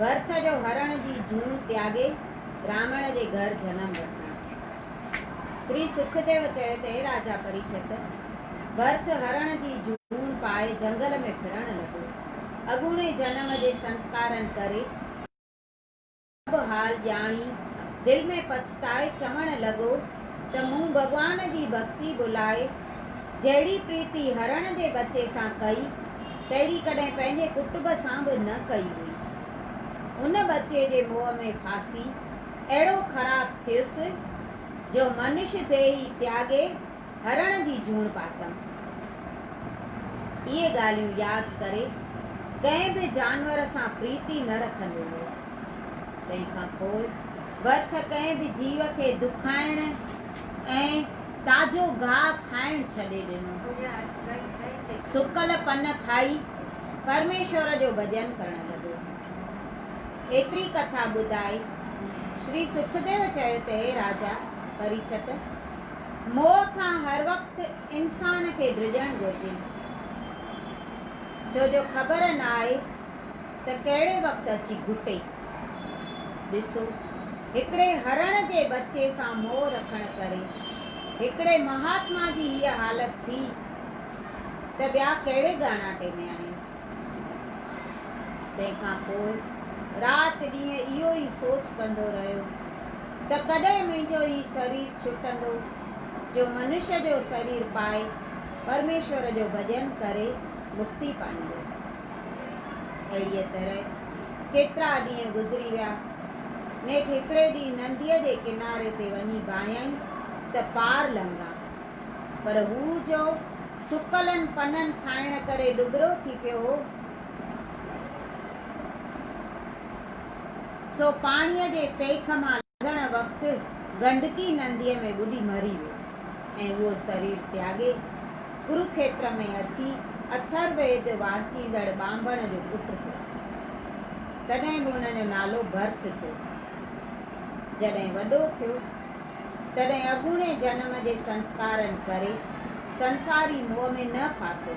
ڀرٿ جو هرڻ جي جون تياڳي براهمڻ جي گهر جنم وٺڻ شري سکديو چيو ته اي راجا پريڇت ڀرٿ هرڻ جي جون پائي جهنگل ۾ ڦرڻ لڳو اڳوڻي جنم جي سنسڪارن ڪري سڀ حال ڄاڻي دل ۾ پڇتائي چوڻ لڳو ته مون ڀڳوان جي ڀڳتي ڀلائي جهڙي پريتي هرڻ جي ٻچي سان ڪئي تهڙي ڪڏهن پنهنجي ڪٽب سان به نه ڪئي هئي. ان ٻچي جي موهه ۾ ڦاسي اهڙو خراب ٿيس جو منش ديهي تياڳي هرڻ جي جوڻ پاتم. اهي ڳالهيون ياد ڪري ڪنهن به جانور سان پريتي نه رکندو هو. تنهن کان پوء ورٿ ڪنهن به جيو کي دکائڻ ۽ تازو گاهه کائڻ ڇڏي ڏنو. سڪل پن کائي پرميشور جو ڀڄن ڪرڻ لڳو. ايتري ڪٿا ٻڌائي شري سکديو چيو ته هي راجا پريڇت! موهه کان هر وقت انسان کي ڊڄڻ گهرجي. ڇو جو خبر ناهي ته ڪهڙي وقت اچي گهٽي. ڏسو، هڪڙي هرڻ جي ٻچي سان موهه رکڻ ڪري هڪڙي مهاتما جي هيء حالت ٿي ته ٻيا ڪهڙي ڳاڻاٽي ۾ آهن. تنهن کان پوء رات ڏينهن اهو ئي سوچ ڪندو رهيو ته ڪڏهن منهنجو هي سرير ڇٽندو جو منشيٰ جو سرير پائي پرميشور جو ڀڄن ڪري مڪتي پائيندس. اهڙيء طرح ڪيترا ڏينهن گذري ويا. نيٺ هڪڙي ڏينهن ننديء جي ڪناري تي وڃي باهيائين ته پار لنگهان. پر هو جو سڪلن پنن کائڻ ڪري ڏٻرو ٿي پيو هو، سو پاڻيء جي تيک مان ڏيڻ وقت گنڊڪي نديء ۾ ٻڏي مري ويو ۽ اهو سرير تياڳي ڪروکيتر ۾ اچي اٿر ويد وانچيندڙ ٻانڀڻ جو پٽ ٿيو. تڏهن به ان جو نالو ڀرٿ ٿيو. جڏهن وڏو ٿيو، تڏهن اڳوڻي جنم جي سنسڪارن ڪري سنساري موهه ۾ نه ڦاٿو.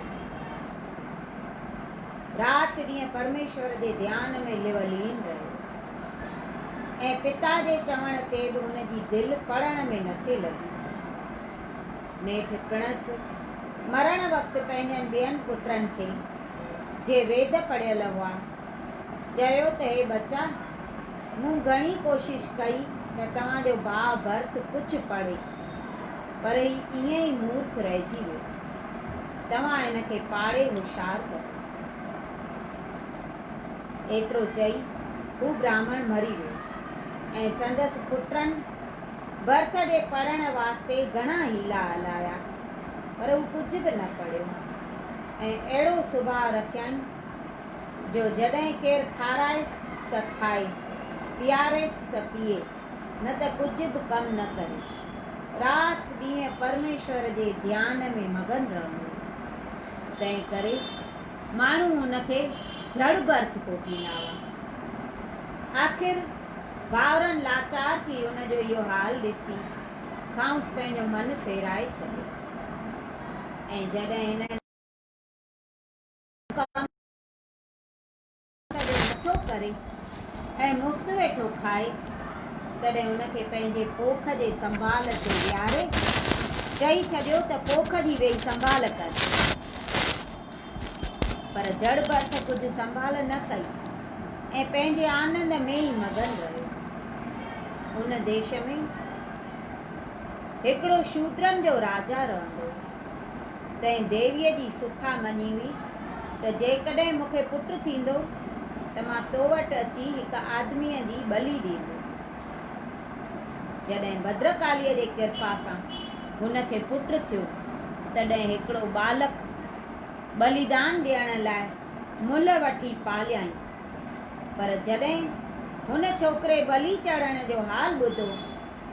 رات ڏينهن پرميشور جي ڌيان ۾ لولين رهيو. ۽ پتا جي چوڻ تي به ان جي دل پڙهڻ ۾ نه ٿي لڳي. نيٺ پڻس مرڻ وقت پنهنجن ٻين پٽن کي، جي ويد پڙهيل هئا، چيو ته هي ٻچا! مون گهڻي ڪوشش ڪئي ته توهان جو ڀاء ڀرت ڪجهه پڙهي، پر هي ائين ئي مورک رهجي ويو. توهان هن کي پاڙهي هوشيار ڪريو. ايترو چئي هو براهمڻ مري ويو ۽ سندس پٽن برٿ ڏي پڙهڻ واسطي گهڻا حيلا هلايا پر هو ڪجهه به نه پڙهيو ۽ اهڙو سڀاء رکيائين جو جڏهن ڪير کارائيس ته کائي، پياريس ته پيئي نه ته ڪجهه به ڪم نه ڪري. رات ڏينهن پرميشور جي ڌيان ۾ مگن رهندو هو. تنهن ڪري. ماڻهو هن کي جھڙ به ارٿ ڪوٺيندا هئا. آخر ڀائرن لاچار ٿي هن جو اهو حال ڏسي کانئس پنهنجو من ڦيرائي ڇڏيو ۽ جڏهن هن ڏٺو ته هو ڪم ڪڏهن نٿو ڪري ۽ مفت ويٺو کائي، تڏهن ان کي پنهنجي پوک جي سنڀال تي ويهاري چئي ڇڏيو ته پوک جي ويهي سنڀال ڪر. پر جڙ برٿ ڪجهه سنڀال نه ڪئي ۽ پنهنجي آنند ۾ ئي مگن رهيو. ان ديش ۾ هڪڙو شودرن جو راجا رهندو هو. تنهن ديويء جي سکا مڃي هئي ته جيڪڏهن مون کي پٽ ٿيندو ته مان تو وٽ اچي هڪ آدميء جي ٻلي ڏيندس. جڏهن ڀدرڪاليء جي ڪرپا سان هن کي پٽ ٿيو، تڏهن هڪڙو ٻالڪ ٻليدان ڏيڻ لاء ملهه وٺي پاليائين. پر جڏهن هن ڇوڪري ٻلي چڙهڻ جو حال ٻڌو،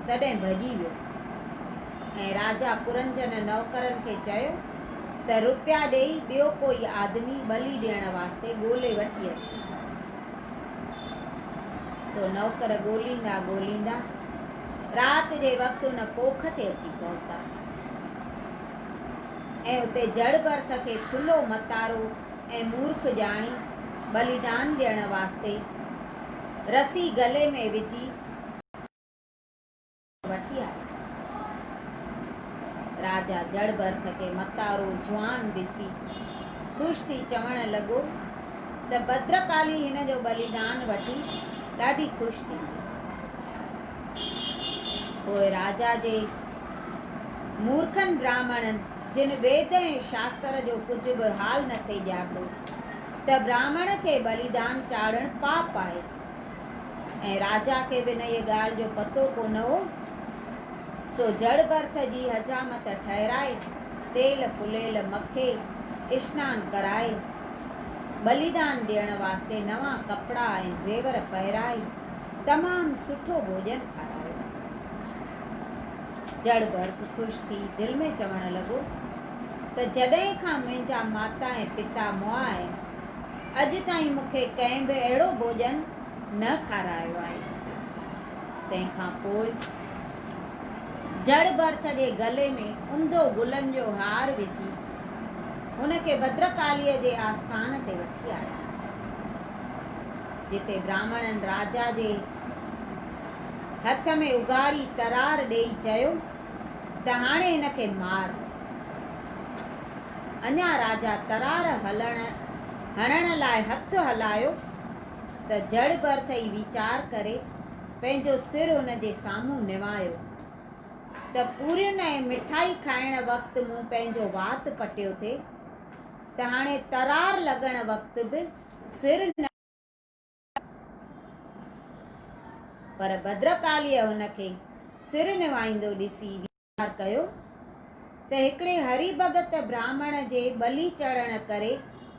تڏهن ڀڄي ويو ۽ راجا پرنجن نوڪرن کي چيو ته روپيا ڏيئي ٻيو ڪوئي آدمي ٻلي ڏيڻ واسطي ڳولي وٺي اچ. سو نوڪر ڳوليندا ڳوليندا رات جي وقت ان پوک تي اچي پهتا ۽ اتي جڙ برٿ کي ٿلهو متارو ۽ مورک ڄاڻي ٻليدان ڏيڻ واسطي رسي گلي ۾ وجهي وٺي آيو. راجا جڙ برک کي متارو جوان ڏسي خوش ٿي چوڻ لڳو ته ڀدرڪالي هن جو ٻليدان وٺي ڏاڍي خوش ٿيندي. پوء راجا جي مورکن براهمڻن جن ويد ۽ شاستر جو ڪجهه به حال نٿي ڄاتو ته براهمڻ کي ٻليدان چاڙهڻ پاپ آهي. ۽ راجا کي به انهيء ڳالهه جو پتو ڪونه هو، سو جڙ برٿ جي حجامت ٺهرائي، تيل ڦليل مکي، اشنان ڪرائي، ٻليدان ڏيڻ واسطي نوان ڪپڙا ۽ زيور پهرائي، تمام سٺو ڀوڄن کارايو. جڙ برٿ خوش ٿي دل ۾ چوڻ لڳو ته جڏهن کان منهنجا ماتا ۽ پتا مئا آهن، اڄ تائين مون کي ڪنهن به اهڙو ڀوڄن نه کارايو آهي. تنهن کان پوء جڙ برٿ جي گلي ۾ انڌو گلن جو هار وجهي هن کي ڀدرڪاليء جي آسٿان تي وٺي آيا، جتي براهمڻن راجا جي هٿ ۾ اگهاڙي ترار ڏيئي چيو. ته هاڻي هن کي مار. اڃا راجا ترار هڻڻ لاء هٿ هلايو ته جڙ برٿ ئي ويچار ڪري پنهنجو سر هن جي سامهون نوايو ته پورين ۽ مٺائي کائڻ وقت مون پنهنجو وات پٽيو ٿي ته هاڻي ترار لڳڻ وقت به سر نه پر ڀدرڪاليء هن کي سر نوائيندو ڏسي ويچار ڪيو ته هڪڙي هري ڀڳت براهمڻ جي ٻلي چڙهڻ ڪري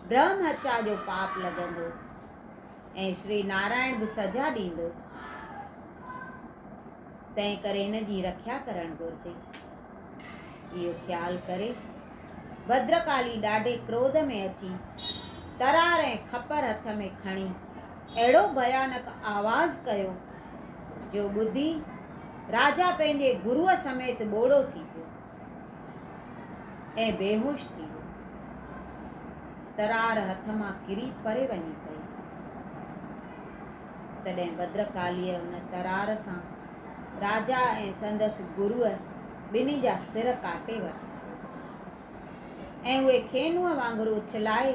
برهم هتيا جو پاپ لڳندو ۽ شري نارائڻ به سزا ڏيندو. تنهن ڪري هن جي رکيا ڪرڻ گهرجي. اهو خيال ڪري ڀدرڪالي ڏاڍي ڪروڌ ۾ اچي ترار ۽ کپر هٿ ۾ کڻي اهڙو ڀيانڪ آواز ڪيو جو ٻڌي راجا پنهنجي گروء سميت ٻوڙو ٿي پيو ۽ بيهوش ٿي ويو. ترار هٿ مان ڪري پري وڃي پئي. تڏهن ڀدرڪاليء ان ترار سان راجا ۽ سندس گروء ٻنهي جا سر ڪاٽي ورتا ۽ اهي کينوء وانگر اڇلائي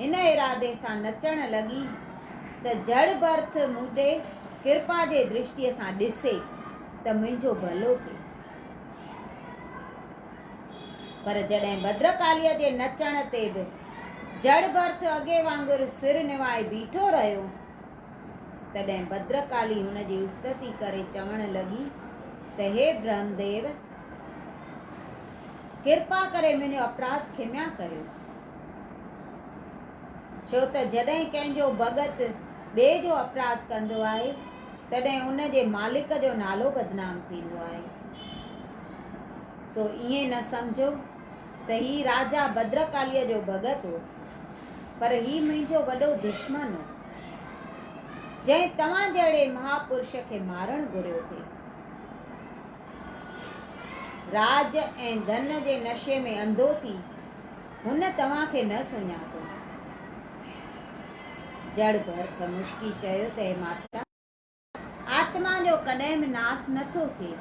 هن ارادي سان نچڻ لڳي ته جڙ برٿ مون تي ڪرپا جي درشٽيء سان ڏسي ته منهنجو ڀلو ٿئي. پر جڏهن ڀدرڪاليء جي نچڻ تي به جڙ برٿ اڳي وانگر سر نوائي بيٺو رهيو، تڏهن ڀدرڪالي هن جي استتي ڪري چوڻ لڳي ته هي برهمديو! ڪرپا ڪري منهنجو اپراڌ کميا ڪريو. ڇو ته جڏهن ڪنهن جو ڀڳت ٻئي جو اپراڌ ڪندو آهي، تڏهن ان جي مالڪ جو نالو بدنام ٿيندو آهي. سو ائين نه سمجهو ته هي راجا ڀدرڪاليء جو ڀڳت هو، پر هي منهنجو وڏو دشمن هو. جنهن توهان جهڙي مهاپرش کي مارڻ گهريو ٿي. راڄ ۽ ڌن جي نشي ۾ انڌو ٿي هن توهان کي نه سڃاتو. جڙ ڀرت مشڪي چيو ته اي ماتا! آتما جو ڪڏهن به ناس نه ٿو ٿئي.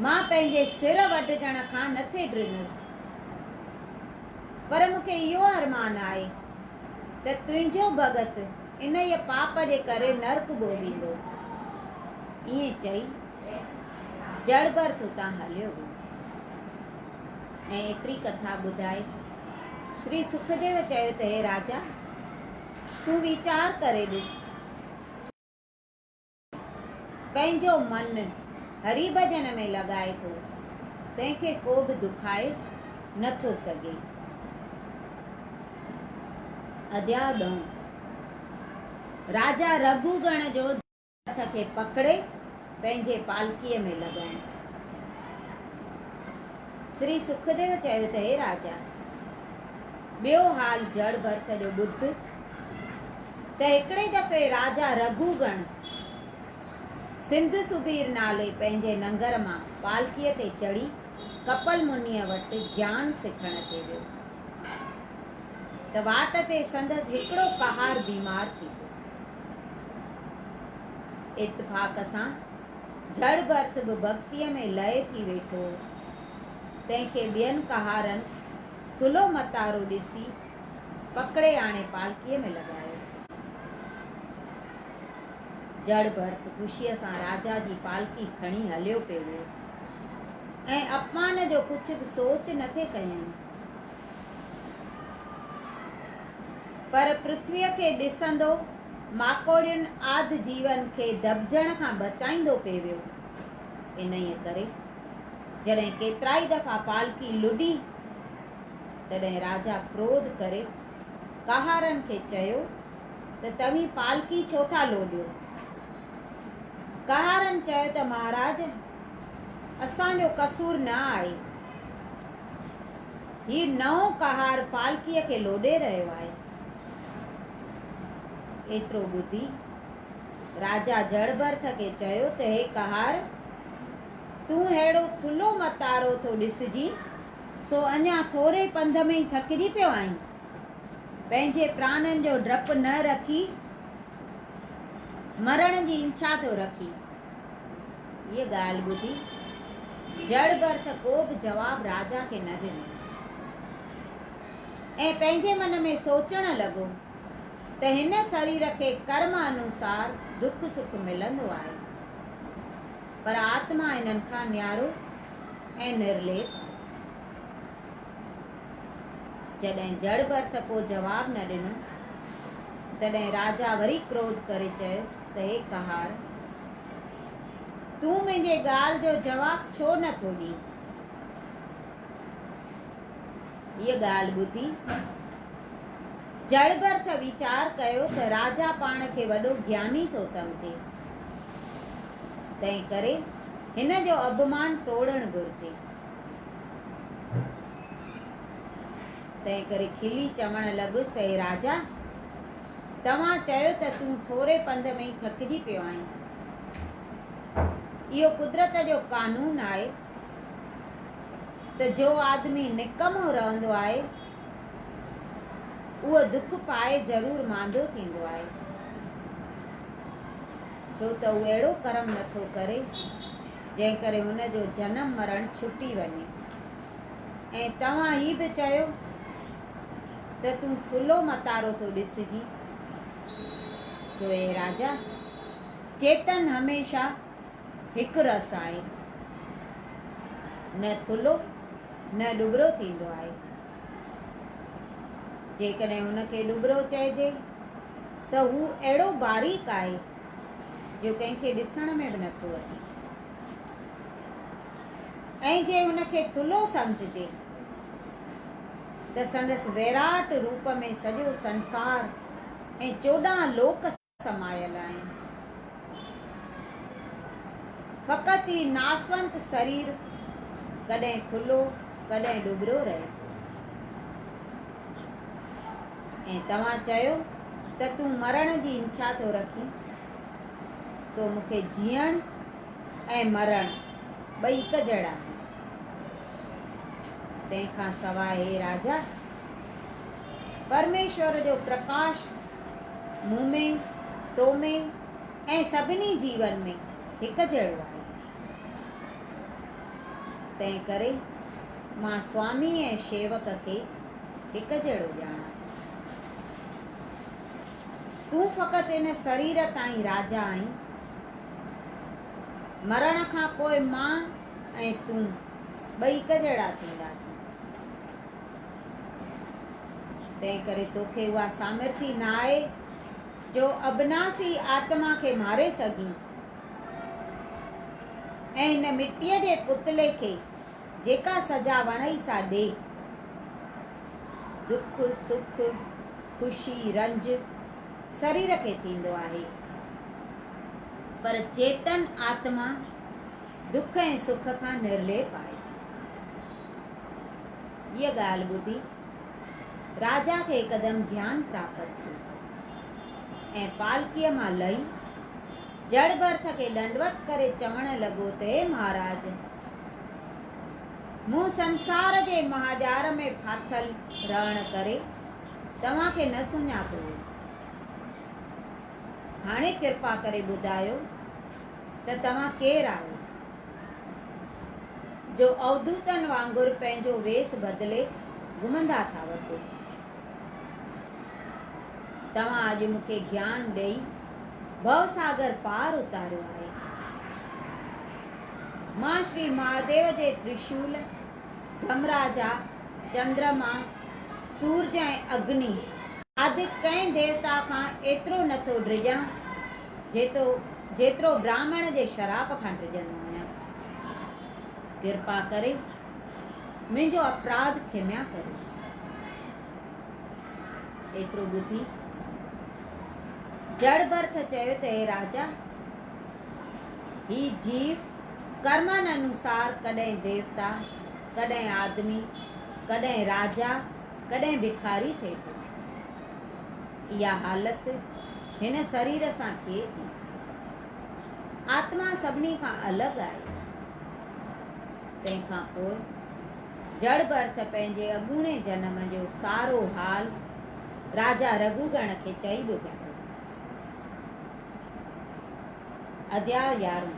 مان پنهنجي سر وڍجڻ کان نه ٿي ڊڄس، پر مون کي اهو ارمان آهي ته تنهنجو ڀڳت انهيء پاپ جي ڪري نرڪ ڀوڳيندو. ائين چئي جڙبرٿ اتان هليو ويو ۽ ايتري ڪٿا ٻڌائي شري سکديو چيو ته هي راجا! تون ويچار ڪري ڏس. پنهنجو من هري ڀڄن ۾ لڳائي ٿو، تنهن کي ڪو به دکائي نه ٿو سگهي. اديا ڏئون. راجا رگهو گڻ جو ڌڻي هٿ کي پڪڙي پنهنجي پالڪيء ۾ لڳائين. سري سکديو چيو ته هي راجا! ٻيو حال جڙ ڀرت جو ٻڌ ته هڪڙي دفعي راجا رگهو گڻ سنڌ سبير نالي پنهنجي ننگر مان پالڪيء تي چڙهي ڪپل منيء وٽ گيان سکڻ تي ويو ته واٽ تي سندس هڪڙو ڪهار بيمار ٿي پيو. اتفاق سان جھڙ ڀرت به ڀڳتيء ۾ لئي ٿي ويٺو. تنهن کي ٻين ڪهارن ٿلهو متارو ڏسي پڪڙي آڻي پالڪيء ۾ لڳايو. جھڙ ڀرت خوشيء سان راجا جي پالڪي کڻي هليو پئي ويو ۽ اپمان جو ڪجهه به سوچ نه ٿي ڪيائين. پر پرٿويء کي ڏسندو. ماڪوڙين آد جيون کي دٻجڻ کان بچائيندو پئي ويو. انهيء ڪري جڏهن ڪيترائي دفعا پالڪي لڏي، تڏهن راجا ڪروڌ ڪري ڪهارن کي چيو ته توهين پالڪي ڇو ٿا لوڏيو؟ ڪهارن چيو ته مهاراج، اسان جو قصور نه آهي. هي نئون ڪهار پالڪيء کي لوڏي رهيو آهي. ايترو ٻڌي راجا جڙ ڀرت کي چيو ته هي ڪهار! تون ههڙو ٿلهو متارو ٿو ڏسجين، سو اڃا ٿوري پنڌ ۾ ئي ٿڪجي پيو آهين. پنهنجي پراڻن جو ڊپ نه رکي، مرڻ جي انڇا ٿو رکين. هيء ڳالهه ٻڌي جڙ ڀرت ڪو به جواب راجا کي نه ڏنو. ۽ پنهنجي من ۾ سوچڻ لڳو ته هن سرير کي ڪرم انوسار دک سک ملندو آهي پر آتما هنن کان نيارو ۽ نرليپ آهي. جڏهن جڙ برٿ ڪو جواب نه ڏنو تڏهن راجا وري ڪروڌ ڪري چيس ته هي ڪهار! تون منهنجي ڳالهه جو جواب ڇو نه ٿو ڏين؟ هيء ڳالهه ٻڌي، جئڙبرٿ ويچار ڪيو ته راجا پاڻ کي وڏو گياني ٿو سمجهي، تنهنڪري هن جو اڀمان ٽوڙڻ گهرجي. تنهنڪري کلي چوڻ لڳس ته اي راجا! توهان چيو ته تون ٿوري پنڌ ۾ ئي ٿڪجي پيو آهين. اهو قدرت جو قانون آهي. ته جو آدمي نڪمو رهندو آهي، اهو دک پائي ضرور ماندو ٿيندو آهي، ڇو ته هو اهڙو ڪرم نه ٿو ڪري، جنهن ڪري هن جو جنم مرڻ ڇٽي وڃي. ۽ توهان هي به چيو ته تون ٿلهو متارو ٿو ڏسجين. سو اي راجا! چيتن هميشه هڪ رس آهي، نه ٿلهو نه ڏٻرو ٿيندو آهي. جيڪڏهن ان کي ڏٻرو چئجي ته هو اهڙو باريڪ آهي جو ڪنهن کي ڏسڻ ۾ به نٿو اچي ۽ جي ان کي ٿلهو سمجهجي ته سندس ويراٽ روپ ۾ سڄو سنسار ۽ چوڏهن لوڪ سمايل آهن. فقط هي ناسونت سرير ڪڏهن ٿلهو ڪڏهن ڏٻرو رهي ٿو. ۽ توهان چيو ته تون مرڻ جي انڇا ٿو رکين، سو مون کي جيئڻ ۽ مرڻ ٻئي هڪ جهڙا آهن. تنهن کان سواء هي راجا! پرميشور جو پرڪاش مون ۾، تو ۾، ۽ سڀني جيون ۾ هڪ جهڙو آهي. تنهن ڪري مان سوامي ۽ شيوڪ کي هڪ جهڙو ڄاڻان ٿو. تون فقط ان سرير تائين راجا آهين. مرڻ کان پوء مان ۽ تون ٻئي هڪ جهڙا ٿينداسين. تنهنڪري توکي اها سامرٿي نه آهي جو ابناسي آتما کي ماري سگهين ۽ هن مٽيء جي پتلي کي جيڪا سزا وڻئي سا ڏي. دک، سک، خوشي، رنج سرير کي ٿيندو آهي پر چيتن آتما دک ۽ سک کان نرليپ آهي. هيء ڳالهه ٻڌي راجا کي هڪدم گيان پراپت ٿيو ۽ پالڪيء مان لهي جڙ ڀرت کي ڏنڊوت ڪري چوڻ لڳو ته اي مهاراج! مون سنسار جي مهاڄار ۾ ڦاٿل رهڻ ڪري توهان کي نه سڃاتو هو. هاڻي ڪرپا ڪري ٻڌايو ته توهان ڪير آهيو، جو اوڌوتن وانگر پنهنجو ويس بدلي گهمندا ٿا وتو؟ توهان اڄ مون کي گيان ڏئي ڀؤ ساگر پار اتاريو آهي. مان شري مهاديو جي ترشول، جهمراجا، چندرما، سورج ۽ اگني، اڌ ڪنهن ديوتا کان ايترو نٿو ڊڄان جيتو جيترو براهمڻ جي شراب کان ڊڄندو آهيان. ڪرپا ڪري منهنجو اپراڌ کميا ڪريو. ايترو ٻڌي جڙ برٿ چيو ته اي راجا! هي جيو ڪرمن انوسار ڪڏهن ديوتا، ڪڏهن آدمي، ڪڏهن راجا، ڪڏهن ڀکاري ٿئي ٿو. اها حالت هن سرير سان ٿئي ٿي. آتما سڀني کان الڳ آهي. تنهن کان پوء جڙ به ارٿ پنهنجي اڳوڻي جنم جو سارو حال راجا رگهوگڻ کي چئي به ڏٺو. اڌياء يارهون،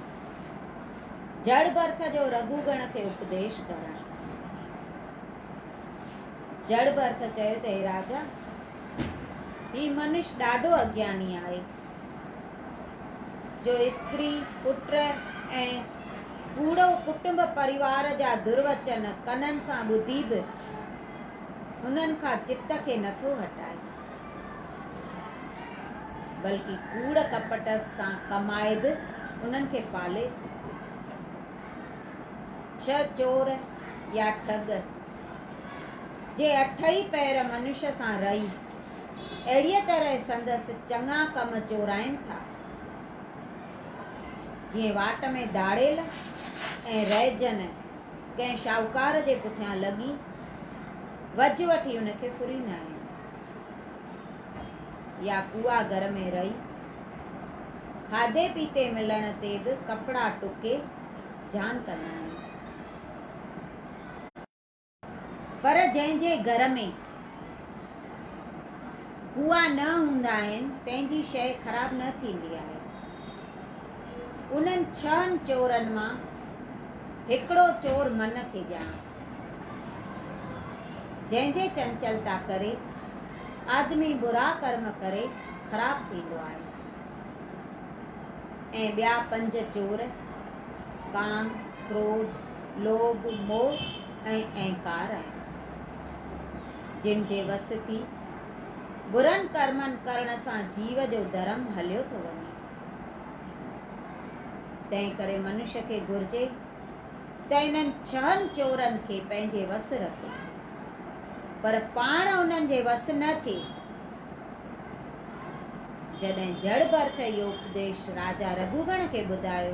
جڙ به ارٿ جو رگهوگڻ کي اپديش ڪرڻ. جڙ به ارٿ چيو ته، هي راجا! هي منش ڏاڍو اگياني آهي، جو استري، پٽ ۽ پوڙهو ڪٽنب پريوار جا دروچن ڪنن سان ٻڌي به انهن کان چت کي نٿو هٽائي، بلڪ ڪوڙ ڪپٽ سان ڪمائي به انهن کي پالي ٿو. ڇهه چور يا ٺڳ. جي اٺئي پهر منش سان رهي، اهڙيء طرح سندس چڱا ڪم چورائين ٿا، جيئن واٽ ۾ ڌاڙيل ۽ رئجن ڪنهن شاهوڪار جي پٺيان لڳي، وجهه وٺي ان کي ڦريندا آهن، يا ڪوئا گهر ۾ رهي، کاڌي پيتي ملڻ تي به ڪپڙا ٽڪي جهان ڪندا آهن. پر جنهن جي گهر ۾ ڪوئا نه هوندا آهن، تنهن جي شيء خراب نه ٿيندي آهي. انهن ڇهن چورن مان هڪڙو چور من کي ڄاڻ، جنهن جي چنچلتا ڪري آدمي برا ڪرم ڪري خراب ٿيندو آهي ۽ ٻيا پنج چور ڪام، ڪروڌ، لوڀ، موھ ۽ اهنڪار آهن، جن جي وس ٿي برن ڪرمن ڪرڻ سان جيو جو ڌرم هليو ٿو وڃي. تنهن ڪري منش کي گهرجي ته انهن ڇهن چورن کي پنهنجي وس رکي، پر پاڻ انهن جي وس نه ٿئي. جڏهن جڙ ڀرت اهو اپديش راجا رگهوگڻ کي ٻڌايو.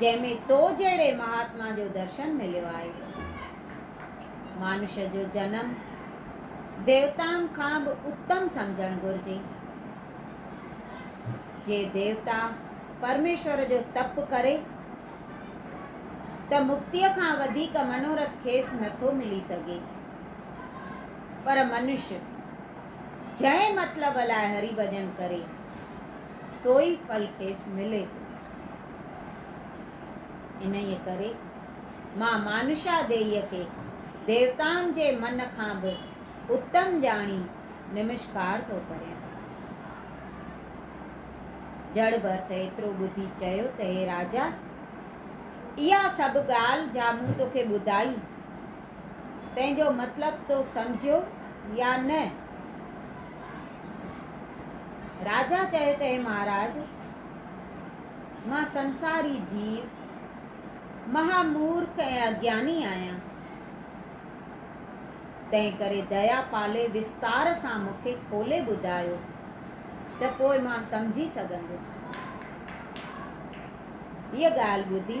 جنهن ۾ تو جهڙي مهاتما جو درشن مليو آهي. مانوش جو جنم ديوتائن کان به اتم سمجهڻ گهرجي. جي ديوتا پرميشور جو تپ ڪري ته مڪتيء کان وڌيڪ منورٿ کيس نه ٿو ملي سگهي. پر منوش جنهن مطلب لاء هري ڀڄن ڪري، سوئي ڦل کيس ملي ٿو. انهيء ڪري مان مانشا ديئيء کي ديوتائن جي من کان به اتم ڄاڻي نمشڪار ٿو ڪريان. جڙ ڀرت ايترو ٻڌي چيو ته هي راجا! اها سڀ ڳالهه جا مون توکي ٻڌائي، تنهن جو مطلب تو سمجهيو يا نه؟ راجا چيو ته اي مهاراج! مان سنساري جيو، مها مورک ۽ اگياني آهيان، تنهن ڪري ديا پالي وستار سان مون کي کولي ٻڌايو ته پوء مان سمجهي سگهندس. هيء ڳالهه ٻڌي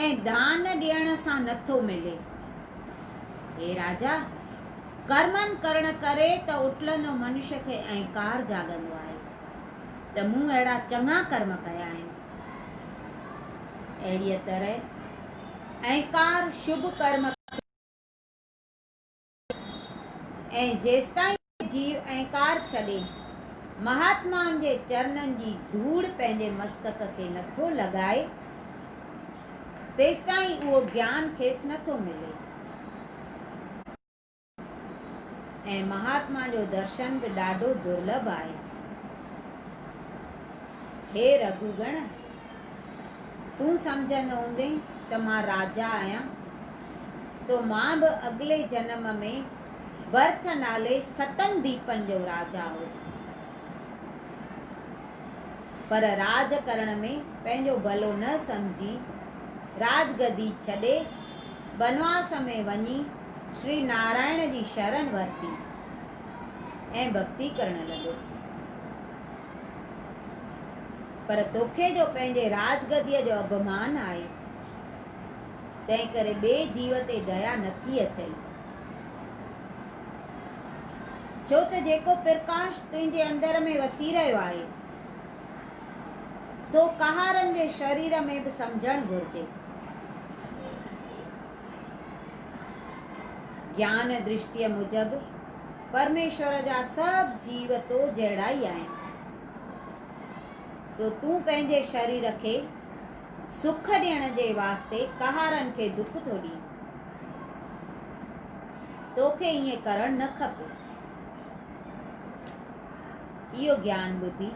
۽ دان ڏيڻ سان نٿو ملي. اي راجا! ڪرمن ڪرڻ ڪري ته اٽلندو منش کي اهنڪار جاڳندو آهي ته مون اهڙا چڱا ڪرم ڪيا آهن. اهڙيء طرح اهنڪار شڀ ڪرم کي. ۽ جيستائين جيو ۽ ڪار ڇڏي، مهاتمائن جي چرنن جي ڌوڙ پنهنجي مستڪ کي نٿو لڳائي، تيستائين اهو گيان کيس نٿو ملي ۽ مهاتما جو درشن به ڏاڍو درلڀ آهي. هي رگهوگڻ! تون سمجهندو هوندين ته مان راجا آهيان، سو مان به اڳلي جنم ۾ برٿ نالي ستن ديپن جو راجا هوس، پر راڄ ڪرڻ ۾ پنهنجو ڀلو نه سمجهي، راڄ گدي ڇڏي، بنواس ۾ وڃي شري نارائڻ جي شرن ورتي ۽ ڀڳتي ڪرڻ لڳس. پر توکي جو پنهنجي راج گديء جو اڀمان آهي، تنهنڪري ٻئي جيو تي ديا نٿي اچئي. ڇو ته جيڪو پرڪاش تنهنجي اندر ۾ وسي رهيو آهي، سو ڪهارن جي شرير ۾ به سمجهڻ گهرجي. گيان درشٽيء موجب، پرميشور جا سڀ جيو تو جهڙا ئي آهن، سو تون پنهنجي شرير کي سک ڏيڻ جي واسطي ڪهارن کي دک ٿو ڏين. توکي ائين ڪرڻ نه کپي. اهو گيان ٻڌي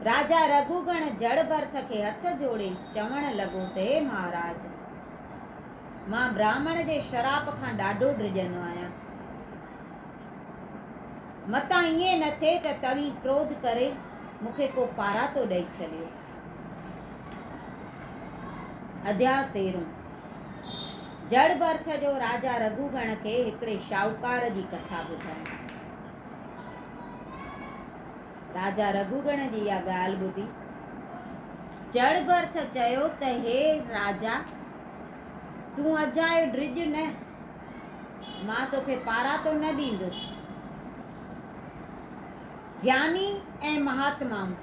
راجا رگهوگڻ جڙ ڀرٿ کي هٿ جوڙي چوڻ لڳو ته هي مهاراج! مان براهمڻ جي شراپ کان ڏاڍو ڊڄندو آهيان. متان ائين نه ٿئي ته توهين ڪروڌ ڪري مون کي ڪو پاراتو ڏئي ڇڏيو. اڌياء تيرهون، جڙ ڀرٿ جو راجا رگهوگڻ کي هڪڙي شاهوڪار جي ڪٿا ٻڌائي. راجا رگهوگڻ جي اها ڳالهه ٻڌي جڙ ڀرٿ چيو ته هي راجا! تون اجايو ڊڄ نه، مان توکي پاراتو نه ڏيندس. گياني ۽ مهاتمائون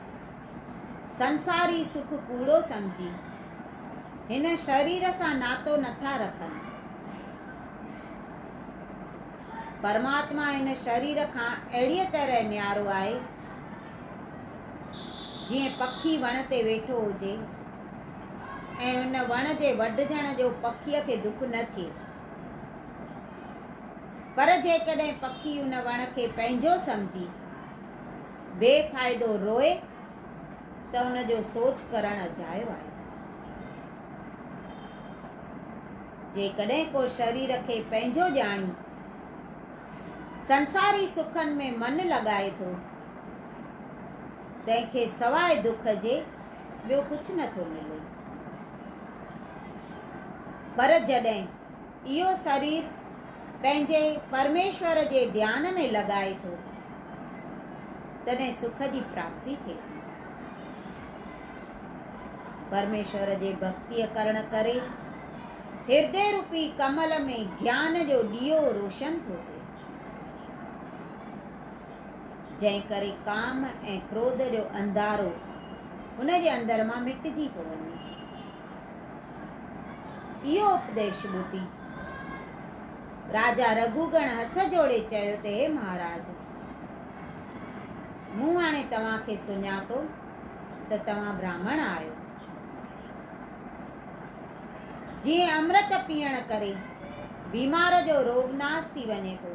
سنساري سک ڪوڙو سمجهي، هن شرير سان ناتو نٿا رکن. پرماتما هن شرير کان اهڙيء طرح نيارو آهي، جيئن پکي وڻ تي ويٺو هجي. ۽ ان وڻ جي وڍجڻ جو پکيء کي دک نه ٿئي. پر جيڪڏهن پکي ان وڻ کي پنهنجو سمجهي بي فائدو روئي ته ان جو سوچ ڪرڻ اجايو آهي. جيڪڏهن ڪو شرير کي پنهنجو ڄاڻي سنساري سکن ۾ من لڳائي ٿو، تنهن کي سواء دک جي، ٻيو ڪجهه نه ٿو ملي. پر جڏهن اهو سرير پنهنجي پرميشور جي ڌيان ۾ لڳائي ٿو، تڏهن سک جي پراپتي ٿئي ٿي. پرميشور جي ڀڳتيء ڪرڻ ڪري هردي روپي ڪمل ۾ گيان جو ڏيئو روشن ٿو ٿئي. جنهن ڪري ڪام ۽ ڪروڌ جو انڌارو هن جي اندر مان مٽجي ٿو وڃي. اهو اپديش ٻڌي راجا رگهوگڻ هٿ جوڙي چيو ته هي مهاراج! مون هاڻي توهان کي سڃاتو ته توهان براهمڻ آهيو. جيئن امرت پيئڻ ڪري بيمار جو روڳ ناس ٿي وڃي ٿو،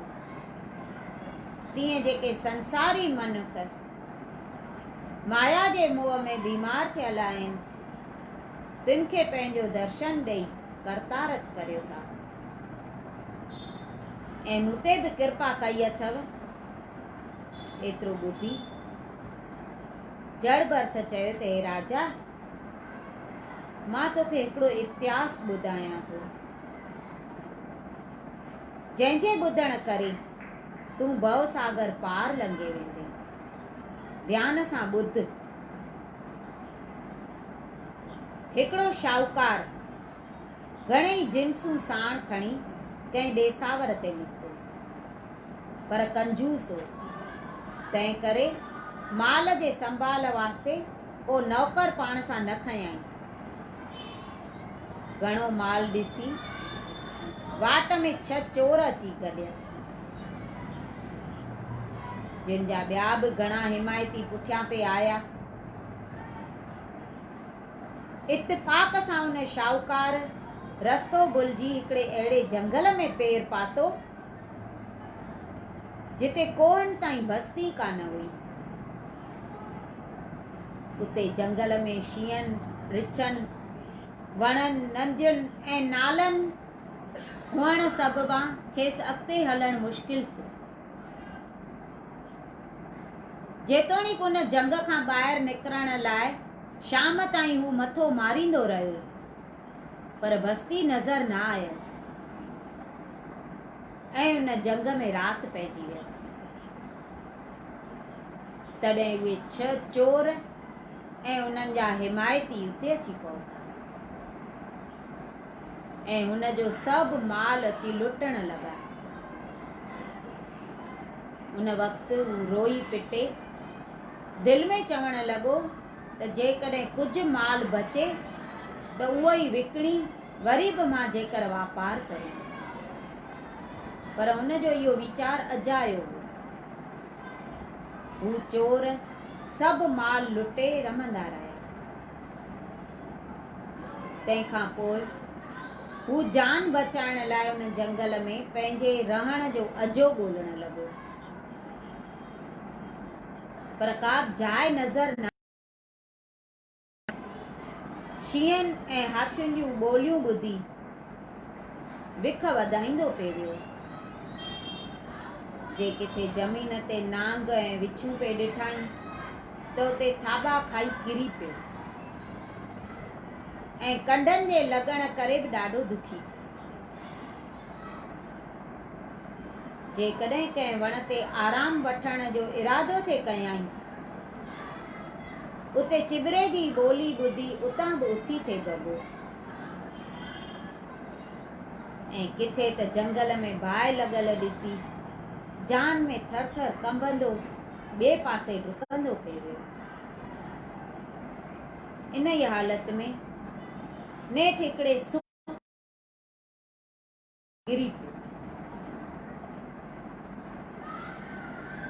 تيئن جيڪي سنساري منک مايا جي موهه ۾ بيمار ٿيل آهن، تن کي پنهنجو درشن ڏئي ڪرتارٿ ڪريو ٿا. ۽ مون تي به ڪرپا ڪئي اٿو، ايترو ٻڌي جڙ برٿ چيو ته هي راجا! مان توکي هڪڙو اتهاس ٻڌايان ٿو. جنهن جي ٻڌڻ ڪري تون ڀؤ ساگر پار لنگهي ويندين. ڌيان سان ٻڌ. هڪڙو شاهوڪار گهڻيئي جنسون ساڻ کڻي ڪنهن ڏيساور تي نڪتو. پر ڪنجوس هو. تنهن ڪري مال جي سنڀال واسطي ڪو نوڪر پاڻ سان نه کنيائين. گهڻو مال ڏسي، واٽ ۾ ڇهه چور اچي گڏيس، جن جا ٻيا به گهڻا حمايتي پٺيان پئي آيا. اتفاق سان ان شاهوڪار رستو ڀلجي هڪڙي اهڙي جهنگل ۾ پير پاتو، جتي ڪوهن تائين بستي ڪانه هئي. اتي جهنگل ۾ شينهن، رڇن، وڻن، نندين ۽ نالن هئڻ سببان کيس اڳتي هلڻ مشڪل ٿيو. جيتوڻيڪ ان جهنگ کان ٻاهر نڪرڻ لاء شام تائين هو مٿو ماريندو رهيو. پر بستي نظر نه آيس ۽ ان جنگ ۾ رات پئجي ويس. تڏهن اهي ڇهه چور ۽ انهن جا حمايتي اتي اچي پهتا ۽ هن جو سڀ مال اچي لٽڻ لڳا. ان وقت هو روئي پٽي دل ۾ چوڻ لڳو ته جيڪڏهن ڪجهه مال بچي ته اهو ئي وڪڻي وري به مان جيڪر واپار ڪريان. پر هن جو اهو ويچار اجايو هو. هو چور سڀ مال لٽي رمندا رهيا. تنهن کان پوء هو جان بچائڻ لاء ان جنگل ۾ پنهنجي رهڻ جو اجهو ڳولڻ لڳو. پر ڪابه جاء نظر نه آئي. شينهن ۽ هاٿين جون ٻوليون ٻڌي بک وڌائيندو پئي ويو. جي ڪٿي زمين تي نانگ ۽ وڇون پئي ڏٺائين ته اتي ٿاٻا کائي ڪري پيو ۽ ڪنڊن جي لڳڻ ڪري به ڏاڍو دکي ٿيو. جيڪڏهن ڪنهن وڻ تي آرام وٺڻ جو ارادو ٿي ڪيائين، اتي چٻري جي ٻولي ٻڌي اتان به اٿي ٿي ڀڳو ۽ ڪٿي ته جهنگل ۾ باهه لڳل ڏسي جان ۾ ٿر ٿر ڪنبندو ٻئي پاسي ڊڪندو پئي ويو. انهيء حالت ۾ نيٺ هڪڙي سڪ ڪري پيو.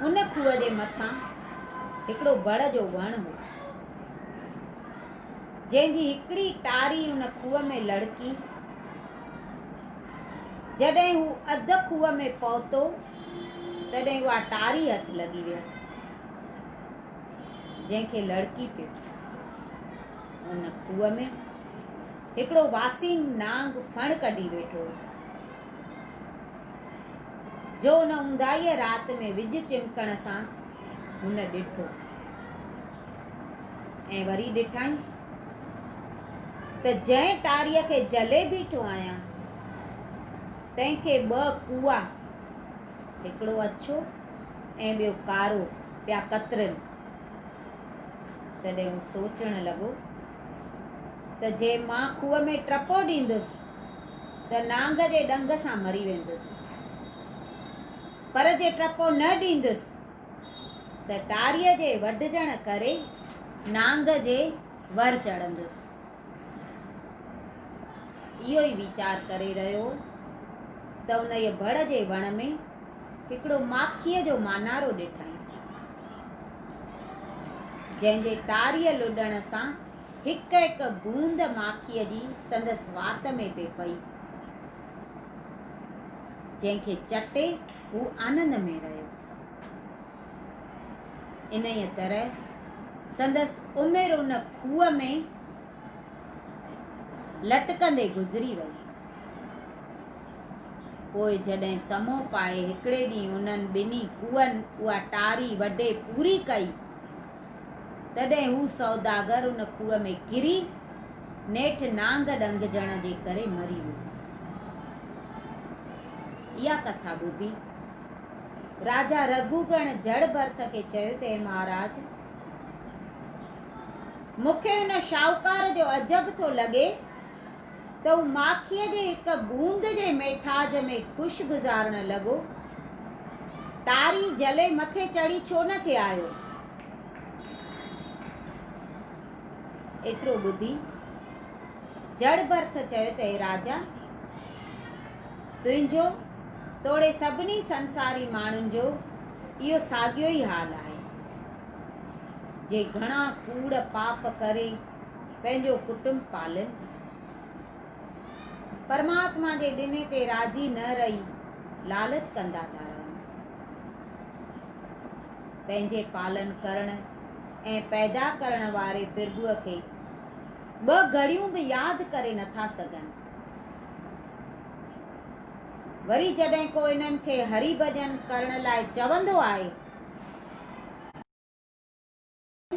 ان کوهه جي مٿان هڪڙو بڙ جو وڻ هو، جنهن جي هڪڙي ٽاري ان کوهه ۾ لڙڪي. جڏهن هو اڌ کوهه ۾ پهتو، تڏهن اها ٽاري هٿ لڳي ويس، جنهن کي لڙڪي پيو. ان کوهه ۾. هڪڙو واسين نانگ ڦڻ ڪڍي ويٺو هو، جو ان اونداهيء رات ۾ وڄ چمڪڻ سان هن ڏٺو ۽ وري ڏٺائين ته جنهن ٽاريء کي جهلي بيٺو آهيان، تنهن کي ٻه ڪوئا، هڪڙو اڇو ۽ ٻيو ڪارو، پيا ڪترن. تڏهن هو سوچڻ لڳو ته جي مان کوهه ۾ ٽپو ڏيندس ته نانگ جي ڏنگ سان مري ويندس، پر جي ٽپو نه ڏيندس ته ٽاريء جي وڍجڻ ڪري نانگ جي ور چڙهندس. اهو ئي ويچار ڪري رهيو هو ته انهيء بڙ جي وڻ ۾ هڪڙو ماکيء جو مانارو ڏٺائين. جنهن جي ٽاريء لڏڻ سان هڪ هڪ بوند ماکيء جي سندس وات ۾ پئي پئي، جنهن کي چٽي هو آنند ۾ رهيو. انهيء طرح سندس عمر ان کوهه ۾ لٽڪندي گذري وئي. پوء جڏهن سمو پائي هڪڙي ڏينهن انهن ٻنهي کوهن اها ٽاري وڍي پوري ڪئي، تڏهن هو سوداگر ان کوهه ۾ ڪري نيٺ نانگ ڏنگجڻ جي ڪري مري ويو. اها ڪٿا ٻڌي راجا رگهوگڻ جڙ ڀرٿ کي چيو ته هي مهاراج! مون کي ان شاهوڪار جو عجب ٿو لڳي، ته هو ماکيء جي هڪ بوند جي ميٺاج ۾ خوش گذارڻ لڳو. ٽاري جهلي مٿي چڙهي ڇو نه ٿي آيو؟ ايترو ٻڌي جڙ برٿ چيو ته اي راجا! تنهنجو توڙي سڀني سنساري ماڻهن جو اهو ساڳيو ئي حال آهي، جي گهڻا ڪوڙ پاپ ڪري، پنهنجو ڪٽنب پالين ٿا. پرماتما جي ڏني تي راضي نه رهي لالچ ڪندا ٿا رهن. پنهنجي پالن ڪرڻ ۽ پيدا ڪرڻ واري پرڀوء کي ٻه گهڙيون به ياد ڪري نه ٿا سگهن. وري جڏهن ڪو انهن کي هري ڀڄن ڪرڻ لاء چوندو آهي.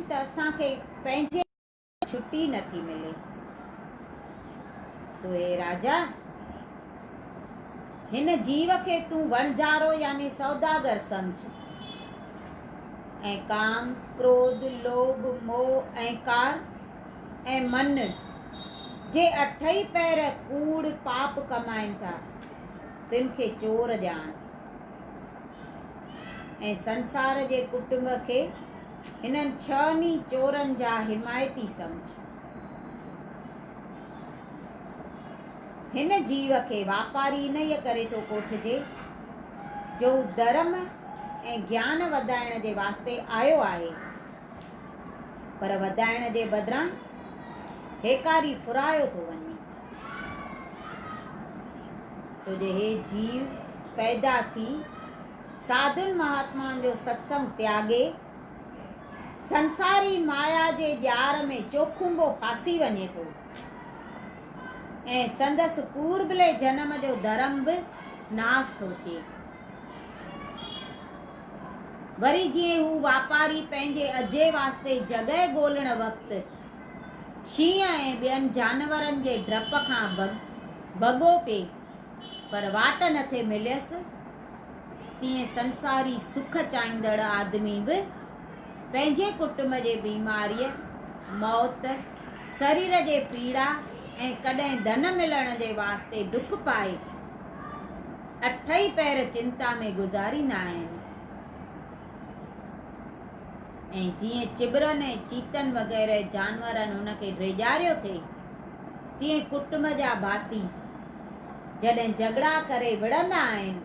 ته اسان کي پنهنجي ڪم جي ڇٽي نه ٿي ملي. سو اي راجا! هن جيو کي تون وڻجارو يعني سوداگر سمجهه ۽ ڪام، ڪروڌ، لوڀ، موهه، اهنڪار ۽ من جي اٺئي پهر ڪوڙ، پاپ، ڪمائين ٿا، تن کي چور ڄاڻ. ۽ سنسار جي ڪٽنب کي هنن ڇهن ئي چورن جا حمايتي سمجهه. هن جيو کي واپاري انهيء ڪري ٿو ڪوٺجي جو هو ڌرم ۽ گيان وڌائڻ جي واسطي آيو آهي، پر وڌائڻ جي بدران هيڪاري ڦرايو ٿو وڃي. ڇو جو هي جيو پيدا ٿي ساڌن مهاتمائن جو ستسنگ تياڳي سنساري مايا جي ڄار ۾ چوکنبو ڦاسي وڃي ٿو ۽ سندس پوربلي جنم جو ڌرم به ناس ٿو ٿئي وري جيئن هو واپاري پنهنجي اجهي واسطي جڳهه ڳولڻ وقت شينهن ۽ ٻين جانورن جي ڊپ کان ڀڳو پئي، پر واٽ نه ٿي مليس، تيئن سنساري سک چاهيندڙ آدمي به پنهنجي ڪٽنب جي بيماريء، موت، سرير جي پيڙا ۽ ڪڏهن ڌن ملڻ جي واسطي دک پائي، اٺئي پهر چنتا ۾ گذاريندا آهن. ۽ جيئن چٻرن ۽ چيتن وغيره جانورن هن کي ڊيڄاريو ٿي، تيئن ڪٽنب جا ڀاتي جڏهن جهڳڙا ڪري وڙهندا آهن،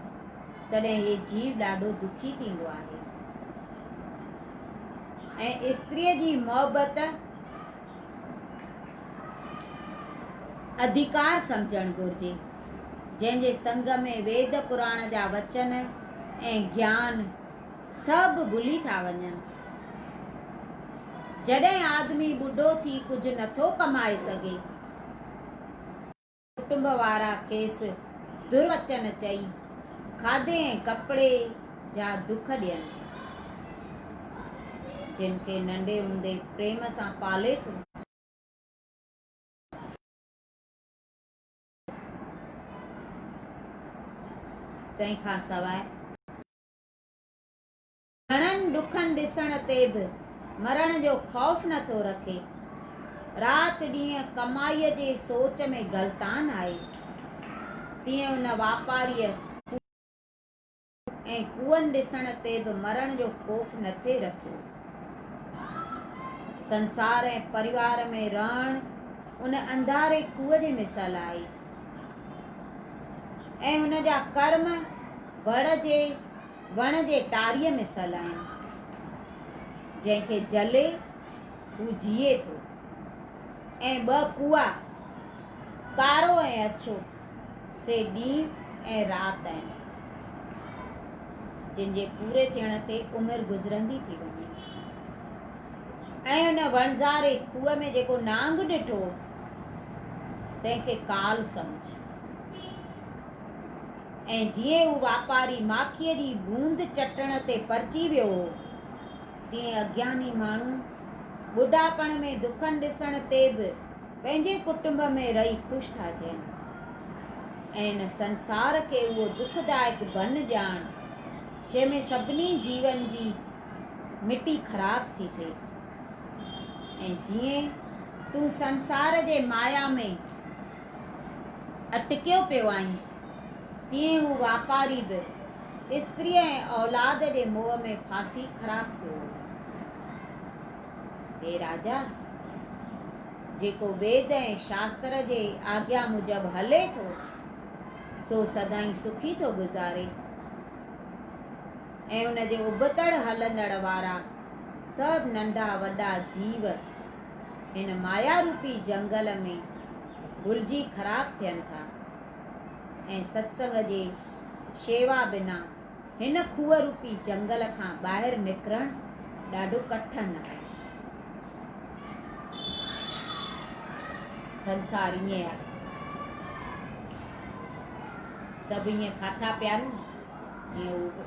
تڏهن هي جيو ڏاڍو دکي ٿيندو آهي ۽ استريء جي محبت اڌڪار سمجهڻ گهرجي، جنهن جي سنگ ۾ ويد پراڻ جا وچن ۽ گيان، سڀ ڀلي ٿا وڃن. جڏهن آدمي ٻڍو ٿي ڪجهه نٿو ڪمائي سگهي. ڪٽنب وارا کيس دروچن چئي کاڌي ۽ ڪپڙي جا دک ڏين. جن کي ننڍي هوندي پريم سان پالي ٿو. سڀ ڀلي ٿا وڃن. تنهن کان سواء. گهڻن ڏکن ڏسڻ تي به مرڻ جو خوف نه ٿو رکي. رات ڏينهن ڪمائيء جي سوچ ۾ غلطان آهي. تيئن ان واپاريء ڪوئن ۽ ڪوئن ڏسڻ تي به مرڻ جو خوف نه ٿي رکيو. سنسار ۽ پريوار ۾ رهڻ ان انڌاري کوهه جي مثل آهي ۽ هن جا ڪرم، وڙ جي وڻ جي ٽاريء مثل آهن، جنهن کي جلي هو جيئي ٿو ۽ ٻه پوئا، ڪارو ۽ اڇو، سي ڏينهن ۽ رات آهن، جن جي پوري ٿيڻ تي عمر گذرندي ٿي وڃي. ۽ ان وڻزاري کوهه ۾ جيڪو نانگ ڏٺو، تنهن کي ڪال سمجهه. ۽ جيئن هو واپاري ماکيء جي بوند چٽڻ تي پرچي ويو هو، تيئن اگياني ماڻهو ٻڍاپڻ ۾ دکن ڏسڻ تي به پنهنجي ڪٽنب ۾ رهي خوش ٿا ٿين ۽ هن سنسار کي اهو دکدائڪ بنهه ڄاڻ، جنهن ۾ سڀني جيون جي مٽي خراب ٿي ٿئي ۽ جيئن تون سنسار جي مايا ۾ اٽڪيو پيو آهين، تيئن هو واپاري به استريء ۽ اولاد جي موهه ۾ ڦاسي خراب ٿيو هو. هي راجا! جيڪو ويد ۽ شاستر جي آگيا موجب هلي ٿو، سو سدائين سکي ٿو گذاري ۽ ان جي ابتڙ هلندڙ وارا سڀ ننڍا وڏا جيو، هن مايا روپي جهنگل ۾ گهلجي خراب ٿين ٿا ۽ ستسنگ جي شيوا بنا هن کوهه روپي جهنگل کان ٻاهر نڪرڻ ڏاڍو ڪٺن آهي. سنسار ائين آهي. سڀ ائين ڦاٿا پيا آهن جيئن هو به.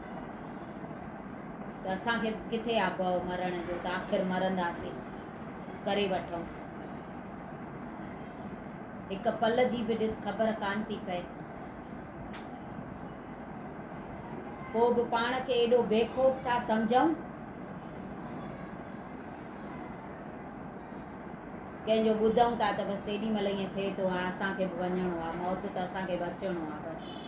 ته اسان کي به ڪٿي آ ڀؤ مرڻ جو ته آخر مرنداسين، ڪري وٺئون. هڪ پل جي به ڏس خبر ڪانه ٿي پئي. پوء به پاڻ کي ايڏو بيخوف ٿا سمجهئون. ڪنهن جو ٻڌئون ٿا ته بس تيڏي مهل ائين ٿئي ٿو ۽ اسان کي به وڃڻو آ، موت ته اسان کي به اچڻو آ بس.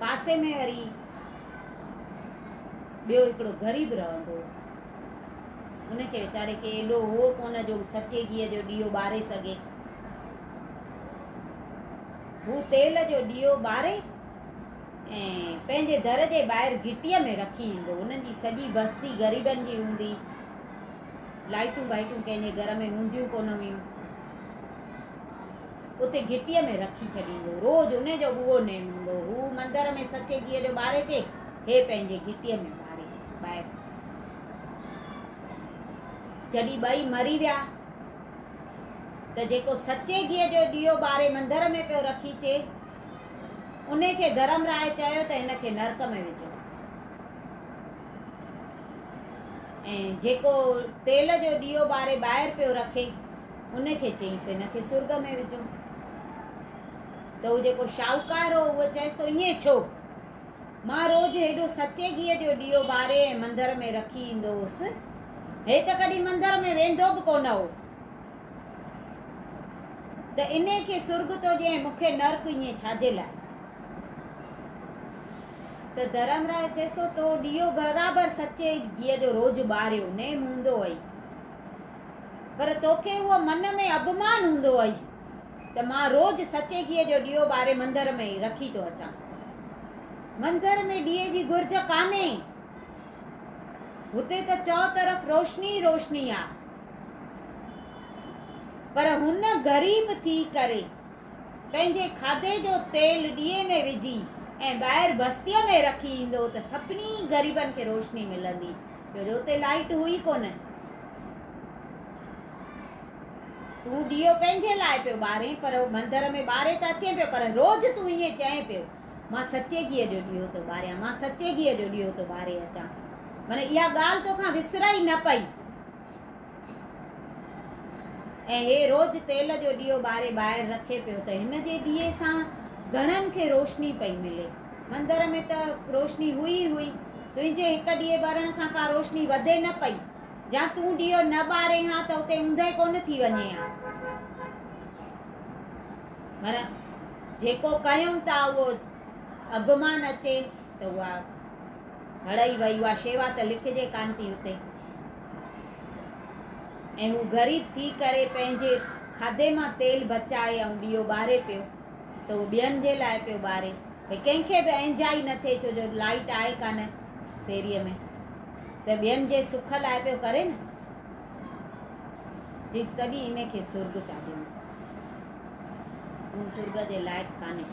پاسي ۾ وري ٻيو هڪڙو غريب رهندو هو. ان کي ويچاري کي ايڏو هو ڪونه جو سچي گيهه جو ڏيئو ٻاري سگهي. هو تيل جو ڏيئو ٻاري ۽ پنهنجي در جي ٻاهر گهٽيء ۾ رکي ايندو هو. انهن جي سڄي بستي غريبن جي هوندي. لائيٽون بائيٽون ڪنهن جي گهر ۾ هونديون ڪونه هيون. اتي گهٽيء ۾ رکي ڇڏيندو. روز ان جو به اهو نيم هوندو. هو مندر ۾ سچي گيهه جو ٻاري چي، هي پنهنجي گهٽيء ۾ ٻاري ٻاهر. جڏهن ٻئي مري ويا ته جيڪو سچي گيهه جو ڏيئو ٻاري مندر ۾ پيو رکي چي، ان کي ڌرم راء چيو ته هن کي نرڪ ۾ وجهو. ۽ جيڪو تيل جو ڏيئو ٻاري ٻاهر پيو رکي، ان کي چيس هن کي سرڳ ۾ وجهو. ته هو جيڪو شاهوڪار هو اهو چيس ٿو ائين ڇو؟ مان روز هيڏو سچي گيهه جو ڏيئو ٻاري ۽ مندر ۾ رکي ايندو هوس. هي ته ڪڏهن مندر ۾ ويندو به ڪونه هو. ته انهي کي سرڳ ٿو ڏيان ۽ مون کي نرڪ ائين ڇاجي لاء؟ ته ڌرم راء چيس ٿو تو ڏيئو برابر سچي گيهه جو روز ٻاريو نيم هوندو هئي. پر توکي اهو من ۾ اڀمان هوندو اهي ته مان روز سچي گيهه جو ڏيئو ٻاري مندر ۾ ئي رکي ٿو اچان. مندر ۾ ڏيئي جي گهرج ڪانهي. هتي ته چؤطرف روشني ئي روشني آهي. پر هن غريب ٿي ڪري پنهنجي کاڌي جو تيل ڏيئي ۾ وجهي ۽ ٻاهر بستيء ۾ رکي ايندو ته سڀني غريبن کي روشني ملندي ڇو جو اتي لائيٽ هئي ڪونه. تون ڏيئو پنهنجي لاء پيو ٻارين پر مندر ۾ ٻاري ته اچين پيو پر روز تون ائين چئين پيو مان سچي گيهه جو ڏيئو ٿو ٻاريان مان سچي گيهه جو ڏيئو ٿو ٻاري اچان ٿو معنيٰ اها ڳالهه توکان وسرئي نه پئي. ۽ هي روز تيل جو ڏيئو ٻاري ٻاهر رکي پيو ته هن جي ڏيئي سان گهڻن کي روشني پئي ملي. مندر ۾ ته روشني هئي ئي هئي. تنهنجي هڪ ڏيئي ٻرڻ سان ڪا روشني وڌي نه پئي. جا تون ڏيئو نه ٻارين ها ته اتي اوندهه ڪونه ٿي وڃي ها. پر جيڪو ڪيم ته اهو اڀمان اچي ته اها هڙئي وئي. اها شيوا ته لکجي ڪانه ٿي اتي. ۽ هو غريب ٿي ڪري پنهنجي کاڌي مان تيل بچائي ۽ ڏيئو ٻاري پيو ته اهو ٻين جي لاء پيو ٻاري. ڀئي ڪنهن کي به اهنجائي نه ٿئي ڇو جو لائيٽ آهي ڪانه سيريء ۾ ته ٻين جي سک لاء پيو ڪري نه. چيس تڏهن ان کي سرڳ پيا ڏيون. تون سرڳ جي لائق ڪانهين.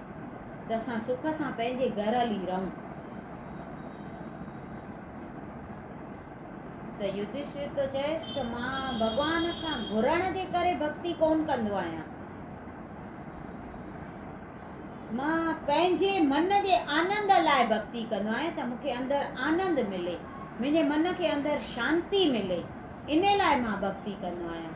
ته اسان سک سان پنهنجي گهر هلي رهون. ته يڌشٿر ٿو چئيس ته مان ڀڳوان کان گهرڻ جي ڪري ڀڳتي ڪونه ڪندو آهيان. مان پنهنجي من جي آنند لاء ڀڳتي ڪندو آهيان ته مونکي اندر آنند ملي، منهنجي من کي اندر شانتي ملي، ان لاء مان ڀڳتي ڪندو آهيان.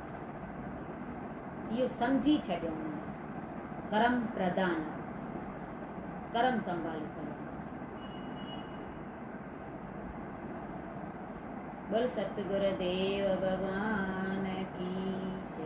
اهو سمجهي ڇڏيائون ته ڪرم پرڌان آهي، ڪرم سنڀالي ڪرڻ بس. بول ستگر ديو ڀڳوان ڪي جي.